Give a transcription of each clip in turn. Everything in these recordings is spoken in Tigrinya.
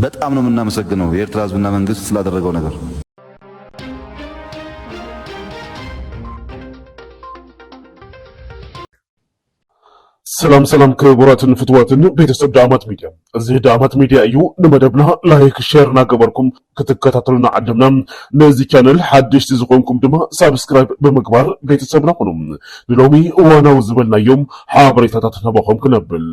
በጣም ነው ምናመሰግነው የኤርትራ ህዝብና መንግስት ስላደረገው ነገር። ሰላም ሰላም ክቡራትን ፍትዋትን ቤተሰብ ዳማት ሚዲያ እዚ ዳማት ሚዲያ እዩ ንመደብና ላይክ ሼር እናገበርኩም ክትከታተሉና ዓደምና ነዚ ቻነል ሓደሽቲ ዝኾንኩም ድማ ሳብስክራይብ ብምግባር ቤተሰብና ኹኑ ንሎሚ እዋናዊ ዝበልናዮም ሓበሬታታት ናባኹም ክነብል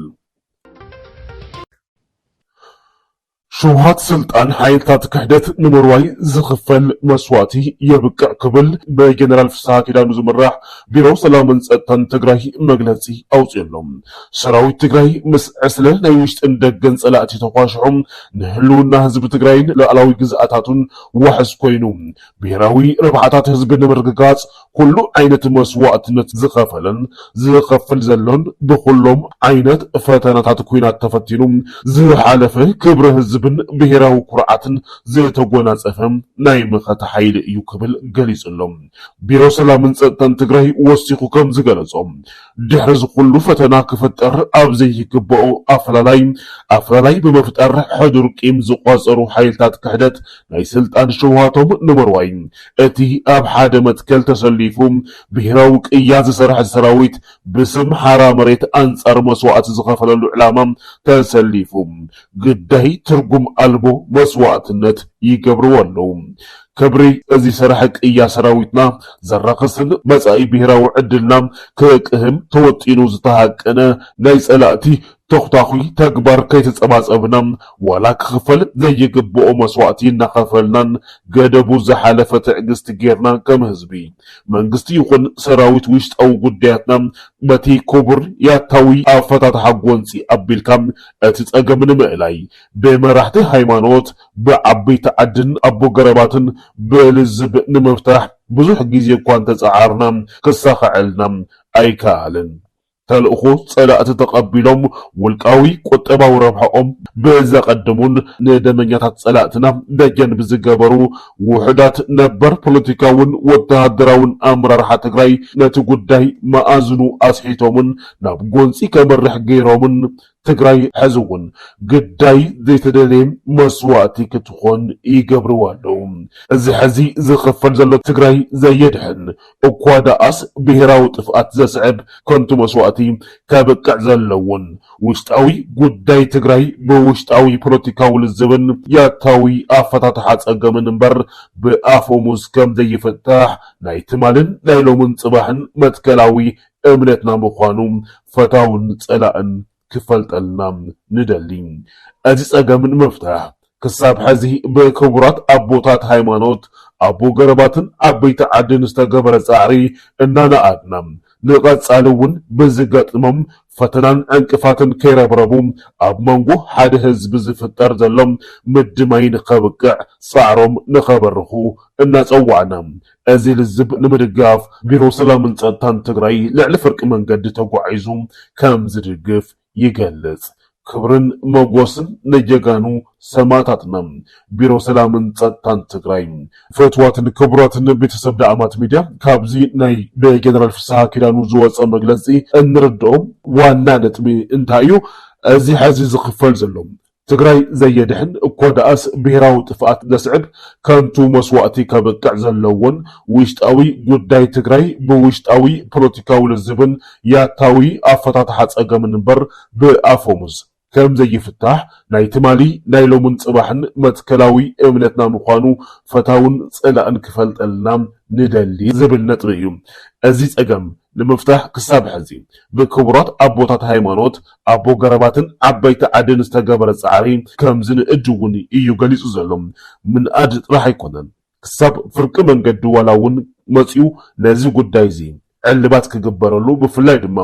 ሸውሃት ስልጣን ሓይልታት ክሕደት ንምርዋይ ዝኽፈል መስዋእቲ የብቅዕ ክብል ብጀነራል ፍስሓ ኪዳኑ ዝምራሕ ቢሮ ሰላምን ፀጥታን ትግራይ መግለፂ ኣውፂኡሎ። ሰራዊት ትግራይ ምስ ዕስለ ናይ ውሽጥን ደገን ፀላእቲ ተኳሽሑ ንህልውና ህዝቢ ትግራይን ሉኣላዊ ግዝኣታቱን ዋሕስ ኮይኑ ብሄራዊ ረብሓታት ህዝቢ ንምርግጋፅ ኩሉ ዓይነት መስዋእትነት ዝኸፈለን ዝኸፍል ዘሎን ብኹሎም ዓይነት ፈተናታት ኲናት ተፈቲኑ ዝሓለፈ ክብሪ ህዝብን ብሄራዊ ኩርዓትን ዝተጎናፀፈ ናይ መኸተ ሓይሊ እዩ ክብል ገሊፁ ኣሎ። ቢሮ ሰላምን ፀጥታን ትግራይ ወሲኹ ከምዝገለፆ ድሕሪ እዚ ኩሉ ፈተና ክፍጠር ኣብ ዘይግበኦ ኣፈላላይ ኣፈላላይ ብምፍጣር ሕዱር ቂም ዝቋፀሩ ሓይልታት ክሕደት ናይ ስልጣን ሽውሃቶም ንምርዋይ እቲ ኣብ ሓደ መትከል ተሰሊፉ ብሄራዊ ቅያ ዝሰርሐ ሰራዊት ብስም ሓራ መሬት ኣንፃር መስዋእቲ ዝኸፈለሉ ዕላማ ተሰሊፉ ግዳይ ትርጉም ኣልቦ መስዋእትነት ይገብርዎ ኣለው። ክብሪ እዚ ሰራሒ ቅያ ሰራዊትና ዘራኽስን መፃኢ ብሄራዊ ዕድልና ክቅህም ተወጢኑ ዝተሃቀነ ናይ ፀላእቲ ተኹታዂ ተግባር ከይተፀባፀብና ዋላ ክኽፈል ዘይግበኦ መስዋእቲ እናኸፈልናን ገደቡ ዝሓለፈ ትዕግስቲ ገይርና ከም ህዝቢ፣ መንግስቲ ይኹን ሰራዊት ውሽጣዊ ጉዳያትና በቲ ክቡር ያታዊ ኣፈታትሓ ጎንፂ ኣቢልካ እቲ ፀገም ንምእላይ ብመራሕቲ ሃይማኖት፣ ብዓበይቲ ዓድን ኣቦ ገረባትን ብልዝብ ንምፍታሕ ብዙሕ ግዜ እኳ እንተፀዓርና ክሳኸዐልና ኣይከኣለን። ተልእኾ ፀላእቲ ተቐቢሎም ውልቃዊ ቁጠባዊ ረብሐኦም ብዘቐድሙን ንደመኛታት ፀላእትና ደጀን ብዝገበሩ ውሑዳት ነበር ፖለቲካውን ወተሃደራውን ኣመራርሓ ትግራይ ነቲ ጉዳይ መኣዝኑ ኣስሒቶምን ናብ ጎንፂ ከምርሕ ገይሮምን ትግራይ ሐዚ እውን ግዳይ ዘይተደለየ መስዋእቲ ክትኾን ይገብርዋ ኣለው። እዚ ሐዚ ዝኽፈል ዘሎ ትግራይ ዘየድሕን እኳ ደኣስ ብሄራዊ ጥፍኣት ዘስዕብ ከንቱ መስዋእቲ ከብቅዕ ዘለዎን ውሽጣዊ ጉዳይ ትግራይ ብውሽጣዊ ፖለቲካዊ ልዝብን ያታዊ ኣፈታትሓ ፀገምን እምበር ብኣፈሙዝ ከምዘይፍታሕ ናይ ትማልን ናይ ሎምን ፅባሕን መትከላዊ እምነትና ምዃኑ ፈታውን ጸላእን ክፈልጠልና ንደሊ። እዚ ጸገም ንምፍታሕ ክሳብ ሕዚ ብክቡራት ኣቦታት ሃይማኖት፣ ኣቦ ገረባትን ዓበይቲ ዓድን ዝተገበረ ጻዕሪ እናነኣድና ንቐጻሊ እውን ብዝገጥሞም ፈተናን ዕንቅፋትን ከይረብረቡ ኣብ መንጎ ሓደ ህዝቢ ዝፍጠር ዘሎ ምድማይ ንከብቅዕ ጻዕሮም ንከበርኹ እናጸዋዕና እዚ ልዝብ ንምድጋፍ ቢሮ ሰላምን ፀጥታን ትግራይ ልዕሊ ፍርቂ መንገዲ ተጓዒዙ ከም ዝድግፍ ይገልፅ። ክብርን መጎስን ንጀጋኑ ሰማእታትና! ቢሮ ሰላምን ፀጥታን ትግራይ። ፍትዋትን ክቡራትን ቤተሰብ ዳእማት ሚድያ ካብዚ ናይ ብጀነራል ፍስሃ ኪዳኑ ዝወፀ መግለፂ እንርደኦ ዋና ነጥቢ እንታይ እዩ እዚ ሐዚ ዝኽፈል ዘሎ ትግራይ ዘየድሕን እኮ ደኣስ ብሄራዊ ጥፍኣት ዘስዕብ ከንቱ መስዋእቲ ከብቅዕ ዘለዎን ውሽጣዊ ጉዳይ ትግራይ ብውሽጣዊ ፖለቲካዊ ልዝብን ያታዊ ኣፈታትሓ ፀገምን እምበር ብኣፈሙዝ ከምዘይፍታሕ ናይ ትማሊ ናይ ሎምን ፅባሕን መትከላዊ እምነትና ምዃኑ ፈታውን ፀላእን ክፈልጠልና ንደሊ ዝብል ነጥቢ እዩ። እዚ ፀገም ንምፍታሕ ክሳብ ሕዚ ብክቡራት ኣቦታት ሃይማኖት፣ ኣቦ ገረባትን ዓበይቲ ዓድን ዝተገበረ ፃዕሪ ከምዝንእድ እውን እዩ ገሊፁ ዘሎ። ምንኣድ ጥራሕ ኣይኮነን ክሳብ ፍርቂ መንገዲ ዋላ እውን መፂኡ ነዚ ጉዳይ እዚ ዕልባት ክግበረሉ ብፍላይ ድማ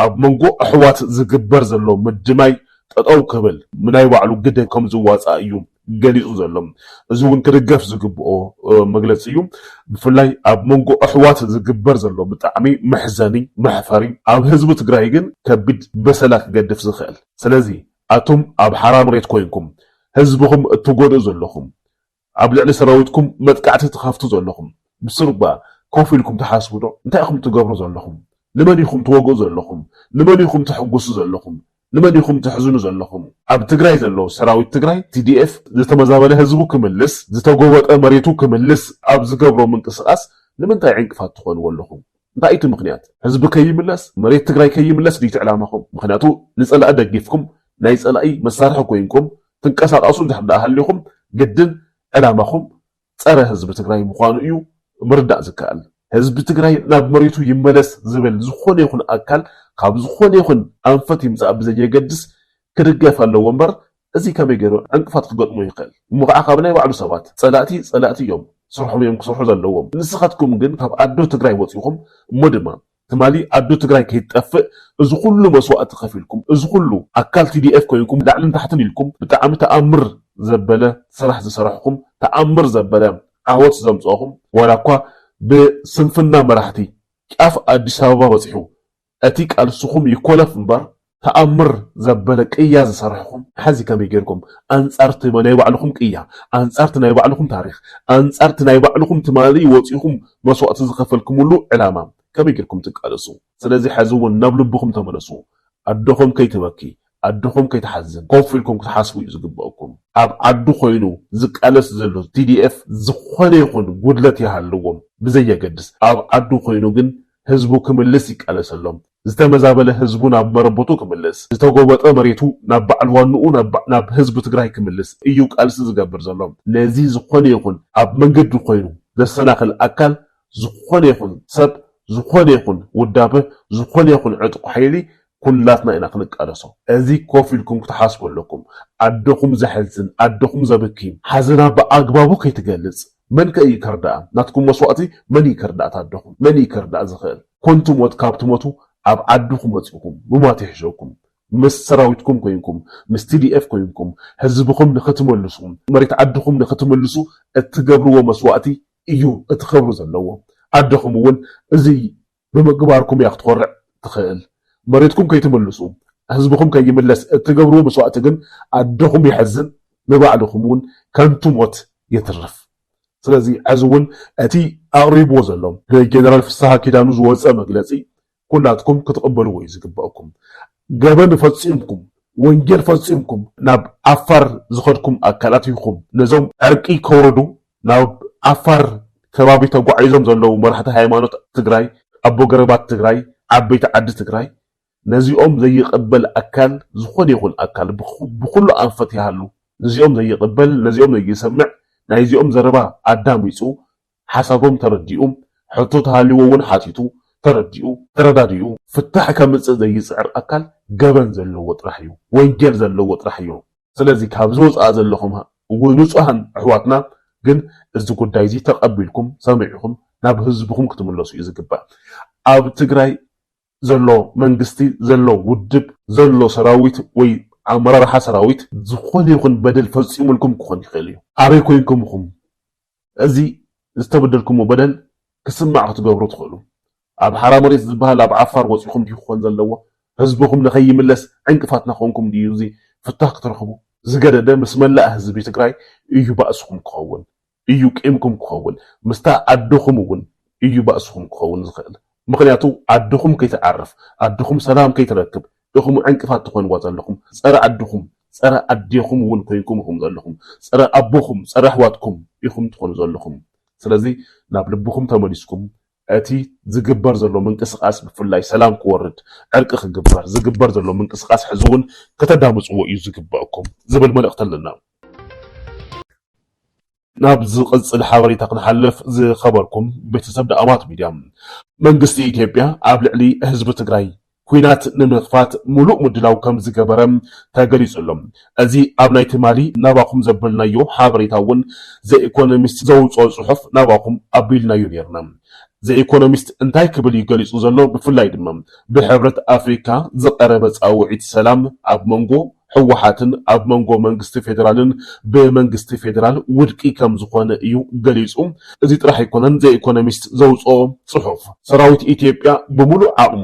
ኣብ መንጎ ኣሕዋት ዝግበር ዘሎ ምድማይ ጠጠው ክብል ናይ ባዕሉ ግደ ከምዝዋፃእ እዩ ገሊጹ ዘሎ። እዚ እውን ክድገፍ ዝግብኦ መግለጺ እዩ። ብፍላይ ኣብ መንጎ ኣሕዋት ዝግበር ዘሎ ብጣዕሚ መሕዘኒ መሕፈሪ ኣብ ህዝቢ ትግራይ ግን ከቢድ በሰላ ክገድፍ ዝኽእል። ስለዚ ኣቱም ኣብ ሓራ መሬት ኮይንኩም ህዝብኹም እትጎድኡ ዘለኹም ኣብ ልዕሊ ሰራዊትኩም መጥቃዕቲ ትኸፍቱ ዘለኹም ብስሩባ ኮፍ ኢልኩም ትሓስቡ ዶ? እንታይ ኢኹም ትገብሩ ዘለኹም? ንመን ኢኹም ትወግኡ ዘለኹም? ንመን ኢኹም ተሕጉሱ ዘለኹም? ንመን ኢኹም ተሕዝኑ ዘለኹም? ኣብ ትግራይ ዘሎ ሰራዊት ትግራይ፣ TDF፣ ዝተመዛበለ ህዝቡ ክምልስ፣ ዝተጎበጠ መሬቱ ክምልስ ኣብ ዝገብሮ ምንቅስቓስ ንምንታይ ዕንቅፋት ትኾንዎ ኣለኹም? እንታይ እዩ እቲ ምኽንያት? ህዝቢ ከይምለስ፣ መሬት ትግራይ ከይምለስ ድዩ እቲ ዕላማኹም? ምኽንያቱ ንፀላኢ ደጊፍኩም ናይ ፀላኢ መሳርሒ ኮይንኩም ትንቀሳቐሱ እንድሕር ደኣ ሃሊኹም ግድን ዕላማኹም ፀረ ህዝቢ ትግራይ ምዃኑ እዩ ምርዳእ ዝከኣል። ህዝቢ ትግራይ ናብ መሬቱ ይመለስ ዝብል ዝኾነ ይኹን ኣካል ካብ ዝኾነ ይኹን ኣንፈት ይምፃእ ብዘየገድስ ክድገፍ ኣለዎ እምበር እዚ ከመይ ገይሩ ዕንቅፋት ክገጥሞ ይኽእል? እሞ ከዓ ካብ ናይ ባዕሉ ሰባት? ፀላእቲ ፀላእቲ እዮም ስርሖም እዮም ክሰርሑ ዘለዎም ንስኻትኩም ግን ካብ ኣዶ ትግራይ ወፂኹም እሞ ድማ ትማሊ ኣዱ ትግራይ ከይትጠፍእ እዚ ኩሉ መስዋእቲ ከፊልኩም እዚ ኩሉ ኣካል TDF ኮይንኩም ላዕልን ታሕትን ኢልኩም ብጣዕሚ ተኣምር ዘበለ ስራሕ ዝሰራሕኹም ተኣምር ዘበለ ዓወት ዘምፀእኹም ዋላ እኳ ብስንፍና መራሕቲ ጫፍ ኣዲስ ኣበባ በፂሑ እቲ ቃልስኹም ይኮለፍ እምበር ተኣምር ዘበለ ቅያ ዝሰራሕኹም ሐዚ ከመይ ገይርኩም ኣንፃር እቲ ናይ ባዕልኹም ቅያ ኣንፃር እቲ ናይ ባዕልኹም ታሪኽ ኣንፃር እቲ ናይ ባዕልኹም ትማሊ ወፂእኹም መስዋእቲ ዝኸፈልክምሉ ዕላማ ከመይ ገይርኩም ትቃለሱ ስለዚ ሐዚ እውን ናብ ልብኹም ተመለሱ ኣደኹም ከይትበኪ ኣደኹም ከይትሓዝን ኮፍ ኢልኩም ክትሓስቡ እዩ ዝግበእኩም። ኣብ ዓዱ ኮይኑ ዝቃለስ ዘሎ tdf ዝኾነ ይኹን ጉድለት ይሃልዎ ብዘየገድስ ኣብ ዓዱ ኮይኑ ግን ህዝቡ ክምልስ ይቃለሰሎም። ዝተመዛበለ ህዝቡ ናብ መረበቱ ክምልስ፣ ዝተጎበጠ መሬቱ ናብ ባዕል ዋንኡ ናብ ህዝቢ ትግራይ ክምልስ እዩ ቃልሲ ዝገብር ዘሎ። ነዚ ዝኾነ ይኹን ኣብ መንገዲ ኮይኑ ዘሰናኽል ኣካል፣ ዝኾነ ይኹን ሰብ፣ ዝኾነ ይኹን ውዳበ፣ ዝኾነ ይኹን ዕጥቁ ሓይሊ ኩላትና ኢና ክንቃለሶ እዚ ኮፍ ኢልኩም ክትሓስቡ ኣለኩም ኣደኹም ዘሕዝን ኣደኹም ዘብኪ ሓዘና ብኣግባቡ ከይትገልጽ መን ከ ኢዩ ከርድኣ ናትኩም መስዋእቲ መን ኢዩ ከርድኣት ኣደኹም መን ኢዩ ከርድኣ ዝኽእል ኮንቱ ሞት ካብ ትሞቱ ኣብ ዓድኹም መጺእኩም ምሟት ይሕሸኩም ምስ ሰራዊትኩም ኮይንኩም ምስ TDF ኮይንኩም ህዝብኹም ንኽትመልሱ መሬት ዓድኹም ንኽትምልሱ እትገብርዎ መስዋእቲ ኢዩ እቲ ኽብሪ ዘለዎ ኣደኹም እውን እዚ ብምግባርኩም እያ ክትኾርዕ ትኽእል። መሬትኩም ከይትምልሱ፣ ህዝብኹም ከይምለስ እትገብርዎ መስዋእቲ ግን ኣደኹም የሕዝን ንባዕልኹም እውን ከንቱ ሞት የትርፍ። ስለዚ ሕዚ እውን እቲ ኣቕሪብዎ ዘሎ ብጀነራል ፍስሃ ኪዳኑ ዝወፀ መግለፂ ኩላትኩም ክትቕበልዎ እዩ ዝግበእኩም። ገበን ፈፂምኩም፣ ወንጀል ፈፂምኩም ናብ ዓፋር ዝኸድኩም ኣካላት ኢኹም ነዞም ዕርቂ ከውርዱ ናብ ዓፋር ከባቢ ተጓዒዞም ዘለዉ መራሕቲ ሃይማኖት ትግራይ፣ ኣቦ ገረባት ትግራይ፣ ዓበይቲ ዓዲ ትግራይ ነዚኦም ዘይቕበል ኣካል ዝኾነ ይኹን ኣካል ብኹሉ ኣንፈት ይሃሉ ንዚኦም ዘይቕበል ነዚኦም ዘይሰምዕ ናይዚኦም ዘረባ ኣዳሚፁ ሓሳቦም ተረዲኡ ሕቶ ተሃልይዎ እውን ሓቲቱ ተረዲኡ ተረዳዲኡ ፍታሕ ከምፅእ ዘይፅዕር ኣካል ገበን ዘለዎ ጥራሕ እዩ። ወንጀል ዘለዎ ጥራሕ እዮ። ስለዚ ካብዚ ወፃኢ ዘለኹም ንፁሃን ኣሕዋትና ግን እዚ ጉዳይ እዚ ተቐቢልኩም ሰሚዕኹም ናብ ህዝብኹም ክትምለሱ እዩ ዝግባእ። ኣብ ትግራይ ዘሎ መንግስቲ ዘሎ ውድብ ዘሎ ሰራዊት ወይ ኣመራርሓ ሰራዊት ዝኾነ ይኹን በደል ፈፂሙልኩም ክኾን ይኽእል እዩ። ኣበይ ኮይንኩም ኢኹም እዚ ዝተበደልኩሞ በደል ክስማዕ ክትገብሩ ትኽእሉ። ኣብ ሓራ መሬት ዝበሃል ኣብ ዓፋር ወጺኹም ድዩ ክኾን ዘለዎ? ህዝብኹም ንከይምለስ ዕንቅፋት ናኾንኩም ድዩ እዚ ፍታህ ክትረኽቡ? ዝገደደ ምስ መላእ ህዝቢ ትግራይ እዩ ባእስኹም ክኸውን እዩ ቂምኩም ክኸውን ምስታ ኣደኹም እውን እዩ ባእስኹም ክኸውን ዝኽእል ምኽንያቱ ዓድኹም ከይትዓርፍ ዓድኹም ሰላም ከይትረክብ ኢኹም ዕንቅፋት ትኾንዋ ዘለኹም ፀረ ዓድኹም ፀረ ኣዴኹም እውን ኮይንኩም ኢኹም ዘለኹም ፀረ ኣቦኹም ፀረ ኣሕዋትኩም ኢኹም ትኾኑ ዘለኹም ስለዚ ናብ ልብኹም ተመሊስኩም እቲ ዝግበር ዘሎ ምንቅስቃስ ብፍላይ ሰላም ክወርድ ዕርቂ ክግበር ዝግበር ዘሎ ምንቅስቃስ ሕዚ እውን ከተዳምፅዎ እዩ ዝግበእኩም ዝብል መልእኽቲ ኣለና። ናብ ዝቕጽል ሓበሬታ ክንሓልፍ ዝኸበርኩም ቤተሰብ ደኣባት ሚድያ መንግስቲ ኢትዮጵያ ኣብ ልዕሊ ህዝቢ ትግራይ ኲናት ንምኽፋት ሙሉእ ምድላው ከምዝገበረ ተገሊፁ ኣሎ እዚ ኣብ ናይ ትማሊ ናባኹም ዘበልናዮ ሓበሬታ እውን ዘኢኮኖሚስት ዘውፅኦ ፅሑፍ ናባኹም ኣቢልናዮ ነይርና ዘኢኮኖሚስት እንታይ ክብል እዩ ገሊፁ ዘሎ ብፍላይ ድማ ብሕብረት ኣፍሪካ ዝቐረበ ፃውዒት ሰላም ኣብ መንጎ ህወሓትን ኣብ መንጎ መንግስቲ ፌደራልን ብመንግስቲ ፌደራል ውድቂ ከም ዝኾነ እዩ ገሊፁ። እዚ ጥራሕ ኣይኮነን ዘ ኢኮኖሚስት ዘውፅኦ ፅሑፍ። ሰራዊት ኢትዮጵያ ብሙሉእ ዓቕሙ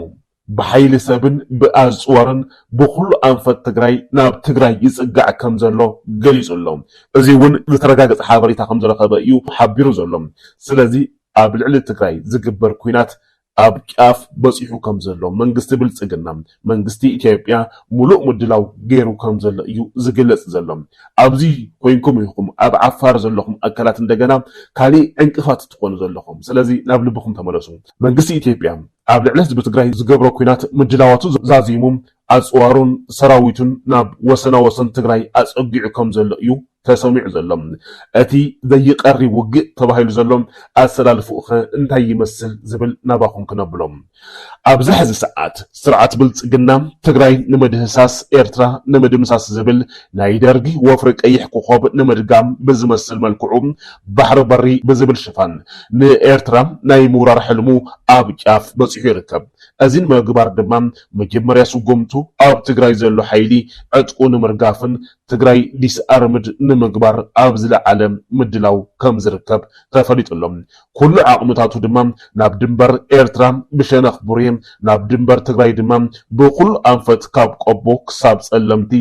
ብሓይሊ ሰብን ብኣፅዋርን ብኹሉ ኣንፈት ትግራይ ናብ ትግራይ ይፅጋዕ ከም ዘሎ ገሊፁ ኣሎ። እዚ እውን ዝተረጋገፀ ሓበሬታ ከም ዝረኸበ እዩ ሓቢሩ ዘሎ። ስለዚ ኣብ ልዕሊ ትግራይ ዝግበር ኲናት ኣብ ጫፍ በፂሑ ከምዘሎ መንግስቲ ብልፅግና መንግስቲ ኢትዮጵያ ሙሉእ ምድላው ገይሩ ከምዘሎ እዩ ዝግለፅ ዘሎ። ኣብዚ ኮይንኩም ኢኹም ኣብ ዓፋር ዘለኹም ኣካላት እንደገና ካሊእ ዕንቅፋት ትኾኑ ዘለኹም። ስለዚ ናብ ልብኹም ተመለሱ። መንግስቲ ኢትዮጵያ ኣብ ልዕሊ ህዝቢ ትግራይ ዝገብሮ ኲናት ምድላዋቱ ዛዚሙ ኣፅዋሩን ሰራዊቱን ናብ ወሰና ወሰን ትግራይ ኣፀጊዑ ከም ዘሎ እዩ ተሰሚዑ ዘሎ። እቲ ዘይቀሪ ውግእ ተባሂሉ ዘሎ ኣሰላልፍኡኸ እንታይ ይመስል ዝብል ናባኹም ክነብሎ። ኣብዚ ሕዚ ሰዓት ስርዓት ብልፅግና ትግራይ ንመድህሳስ ኤርትራ ንምድምሳስ ዝብል ናይ ደርጊ ወፍሪ ቀይሕ ኮኾብ ንምድጋም ብዝመስል መልክዑ ባሕሪ በሪ ብዝብል ሽፋን ንኤርትራ ናይ ምውራር ሕልሙ ኣብ ጫፍ በፂሑ ይርከብ። እዚ ንምግባር ድማ መጀመርያ ስጉምቱ ኣብ ትግራይ ዘሎ ሓይሊ ዕጥቁ ንምርጋፍን ትግራይ ዲስኣርምድ ንምግባር ኣብ ዝለዓለ ምድላው ከምዝርከብ ተፈሊጡ ኣሎ። ኩሉ ዓቕምታቱ ድማ ናብ ድንበር ኤርትራ ብሸነኽ ቡሬ ናብ ድንበር ትግራይ ድማ ብኹሉ ኣንፈት ካብ ቆቦ ክሳብ ጸለምቲ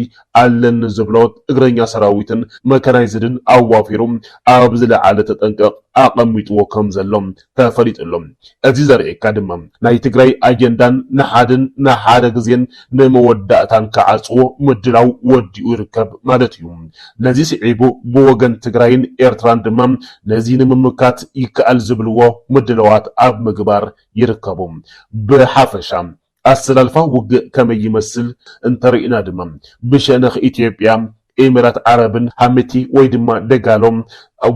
ኣለኒ ዝብሎ እግረኛ ሰራዊትን መካናይዝድን ኣዋፊሩ ኣብ ዝለዓለ ተጠንቀቕ ኣቐሚጥዎ ከምዘሎ ተፈሊጡ ኣሎ። እዚ ዘርእየካ ድማ ናይ ትግራይ ኣጀንዳን ንሓድን ንሓደ ግዜን ንመወዳእታን ክዓጽዎ ምድላው ወዲኡ ይርከብ ማለት እዩ። ነዚ ስዒቡ ብወገን ትግራይን ኤርትራን ድማ ነዚ ንምምካት ይከኣል ዝብልዎ ምድላዋት ኣብ ምግባር ይርከቡ። ብሓፈሻ ኣሰላልፋ ውግእ ከመይ ይመስል እንተሪእና ድማ ብሸነኽ ኢትዮጵያ፣ ኤሚራት ዓረብን ሃሚቲ ወይ ድማ ደጋሎ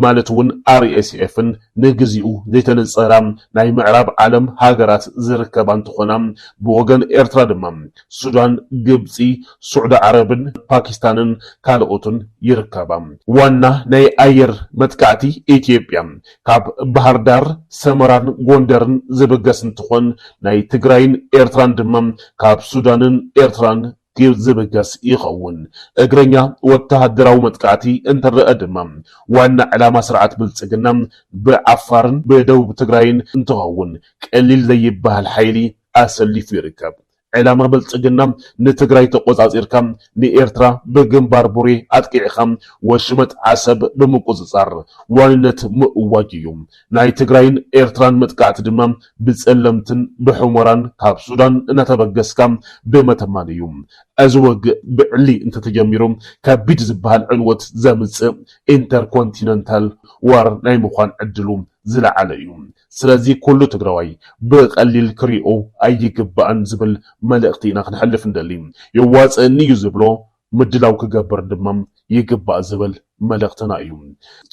ማለት ውን RSFን ንግዚኡ ዘይተነፀራ ናይ ምዕራብ ዓለም ሃገራት ዝርከባ እንትኾና ብወገን ኤርትራ ድማ ሱዳን፣ ግብፂ፣ ሱዕዲ ዓረብን ፓኪስታንን ካልኦትን ይርከባ። ዋና ናይ ኣየር መጥቃዕቲ ኢትዮጵያ ካብ ባህርዳር፣ ሰመራን ጎንደርን ዝብገስ እንትኾን ናይ ትግራይን ኤርትራን ድማ ካብ ሱዳንን ኤርትራን ዝብገስ ይኸውን። እግረኛ ወተሃደራዊ መጥቃዕቲ እንትረኣ ድማ ዋና ዕላማ ስርዓት ብልፅግና ብዓፋርን ብደቡብ ትግራይን እንትኸውን ቀሊል ዘይበሃል ሓይሊ ኣሰሊፉ ይርከብ። ዕላማ ብልፅግና ንትግራይ ተቆፃፂርካ ንኤርትራ ብግንባር ቡሬ ኣጥቂዕኻ ወሽመጥ ዓሰብ ብምቁፅፃር ዋንነት ምእዋጅ እዩ። ናይ ትግራይን ኤርትራን መጥቃዕቲ ድማ ብፀለምትን ብሑሞራን ካብ ሱዳን እናተበገስካ ብመተማን እዩ። እዚ ወግእ ብዕሊ እንተተጀሚሩ ከቢድ ዝበሃል ዕንወት ዘምፅእ ኢንተርኮንቲነንታል ዋር ናይ ምዃን ዕድሉ ዝለዓለ እዩ። ስለዚ ኩሉ ትግራዋይ ብቀሊል ክሪኦ ኣይግባእን ዝብል መልእኽቲ ኢና ክነሕልፍ ንደሊ። የዋፅእኒ እዩ ዝብሎ ምድላው ክገብር ድማ ይግባእ ዝብል መልእኽትና እዩ።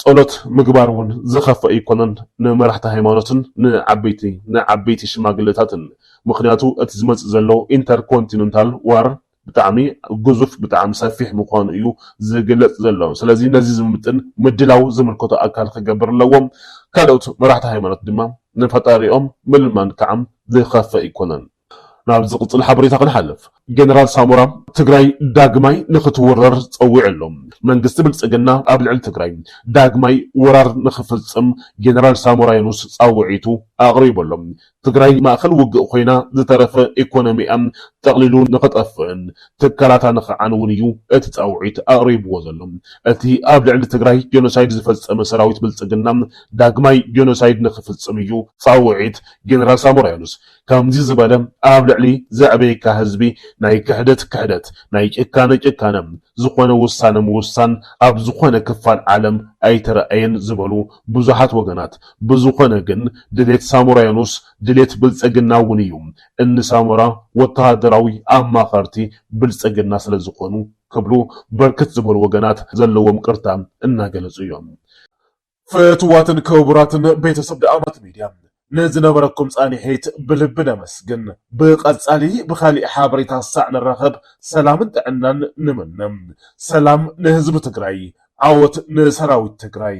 ፀሎት ምግባር እውን ዝኸፍእ ኣይኮነን ንመራሕቲ ሃይማኖትን ንዓበይቲ ንዓበይቲ ሽማግለታትን ምኽንያቱ እቲ ዝመፅእ ዘሎ ኢንተርኮንቲነንታል ዋር ብጣዕሚ ግዙፍ ብጣዕሚ ሰፊሕ ምዃኑ እዩ ዝግለፅ ዘሎ። ስለዚ ነዚ ዝምጥን ምድላው ዝምልከቶ ኣካል ክገብር ኣለዎ። ካልኦት መራሕቲ ሃይማኖት ድማ ንፈጣሪኦም ምልማን ከዓ ዝኸፍእ ኣይኮነን። ናብ ዝቕፅል ሓበሬታ ክንሓልፍ። ጀነራል ሳሞራ ትግራይ ዳግማይ ንክትውረር ፀዊዑ ኣሎ። መንግስቲ ብልፅግና ኣብ ልዕሊ ትግራይ ዳግማይ ወራር ንክፍፅም ጀነራል ሳሞራ የኑስ ፃውዒቱ ኣቕሪቡ ኣሎ። ትግራይ ማእኸል ውግእ ኮይና ዝተረፈ ኢኮኖሚኣ ጠቕሊሉ ንኽጠፍእን ትካላታ ንኽዓንውን እዩ እቲ ፃውዒት ኣቕሪብዎ ዘሎ። እቲ ኣብ ልዕሊ ትግራይ ጀኖሳይድ ዝፈፀመ ሰራዊት ብልፅግና ዳግማይ ጀኖሳይድ ንኽፍፅም እዩ ፃውዒት ጀነራል ሳሞራ የኑስ። ከምዚ ዝበለ ኣብ ልዕሊ ዘዕበየካ ህዝቢ ናይ ክሕደት ክሕደት፣ ናይ ጭካነ ጭካነ ዝኾነ ውሳነ ምውሳን ኣብ ዝኾነ ክፋል ዓለም ኣይተረኣየን ዝበሉ ብዙሓት ወገናት፣ ብዝኾነ ግን ድሌት ሳሞራ የኑስ ድሌት ብልፅግና እውን እዩ። እኒ ሳሞራ ወታሃደራዊ ኣማኸርቲ ብልፅግና ስለዝኾኑ ክብሉ ብርክት ዝበሉ ወገናት ዘለዎም ቅርታ እናገለፁ እዮም። ፍትዋትን ክቡራትን ቤተሰብ ደኣማት ሚድያ ንዝነበረኩም ፃኒሒት ብልቢ ነመስግን። ብቀፃሊ ብኻሊእ ሓበሬታ ሳዕ ንራኸብ ሰላምን ጥዕናን ንምነ። ሰላም ንህዝቢ ትግራይ! ዓወት ንሰራዊት ትግራይ!